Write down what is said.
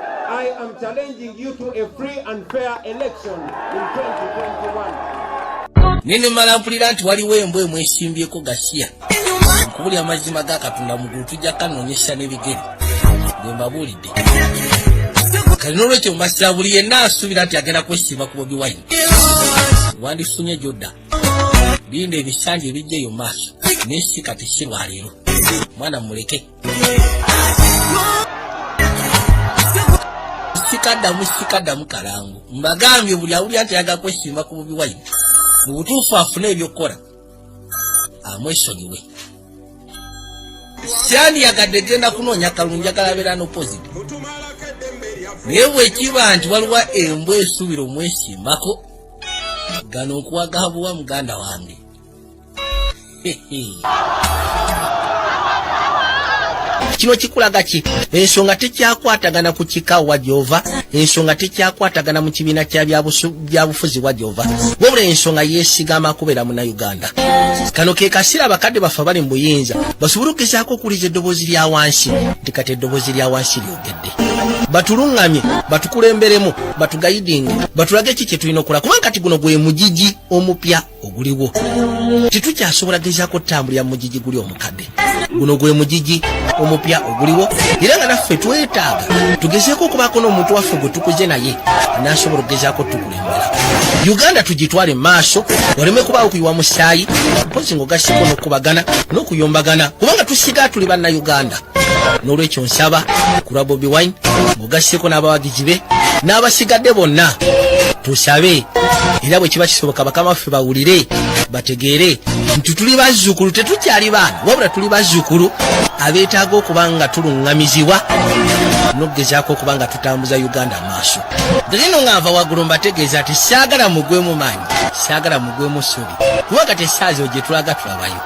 I am challenging you to a free and fair election in 2021. Nini mala mpulira nti waliwo embwa emwesimbyeko gasiya nkubuli amazima ga katonda mugulu tujja kanonyesa n'ebigere bwe mbabuulidde kale n'olwekyo mbasira buli yenna asuubira nti agenda kwesimba ku bobi wine wandifunye gyodda linda ebisanja ebijja eyo maaso naye si kati si lwaleero mwana muleke sikadamu sikadamu kalangu mbagambye buli awuli anti ayaga kwesimba ku bubi wayini mu butuufu afune ebyokukola amwesonyiwe syandiyagadde genda kunoonya kalungu njagala abeera nopoziti naye bwekiba nti waliwo embwa esuubira omwesimbako gano nkuwagabuwa muganda wange kino kikulaga ki ensonga tekyakwatagana ku kika wa gyova ensonga tekyakwatagana mu kibiina kya byabufuzi wa gyova wabula ensonga yesigama kubeera muna uganda kano ke kasiira abakadde baffe bali mu buyinza basobole okugezaako okuwuliza eddoboozi lya wansi nti kati eddoboozi lya wansi lyogedde batuluŋŋamye batukulemberemu batugayidinge batulage ki kye tulina okukola kubanga kati guno gwe mugigi omupya oguliwo tetukyasobola gezaako kutambulira mugigi guli omukadde guno gwe mugigi omupya oguliwo era nga naffe twetaaga tugezeeko okubaako n'omuntu waffe gwe tukuze naye anasobola okugezaako tukulembera uganda tugitwale maaso oleme kubaawo kuyiwa musaayi mpozi ngaogasiko n'okubagana n'okuyombagana kubanga tusigaa tuli banna uganda n'olwekyo nsaba ku lwa bobi wine mugaseko n'abawagizi be n'abasigadde bonna tusabe era bwe kiba kisoboka bakama baffe bawulire bategeere nti tuli bazzukulu tetukyali baana wabula tuli bazzukulu abeetaaga okuba nga tuluŋŋamizibwa n'okugezaako okuba nga tutambuza uganda amaaso nzino nga nva waggulu mbategeeza nti saagala mugwemu maanyi saagala mugwemu ssubi kuba kati esaazi ogye tulaga tulabayo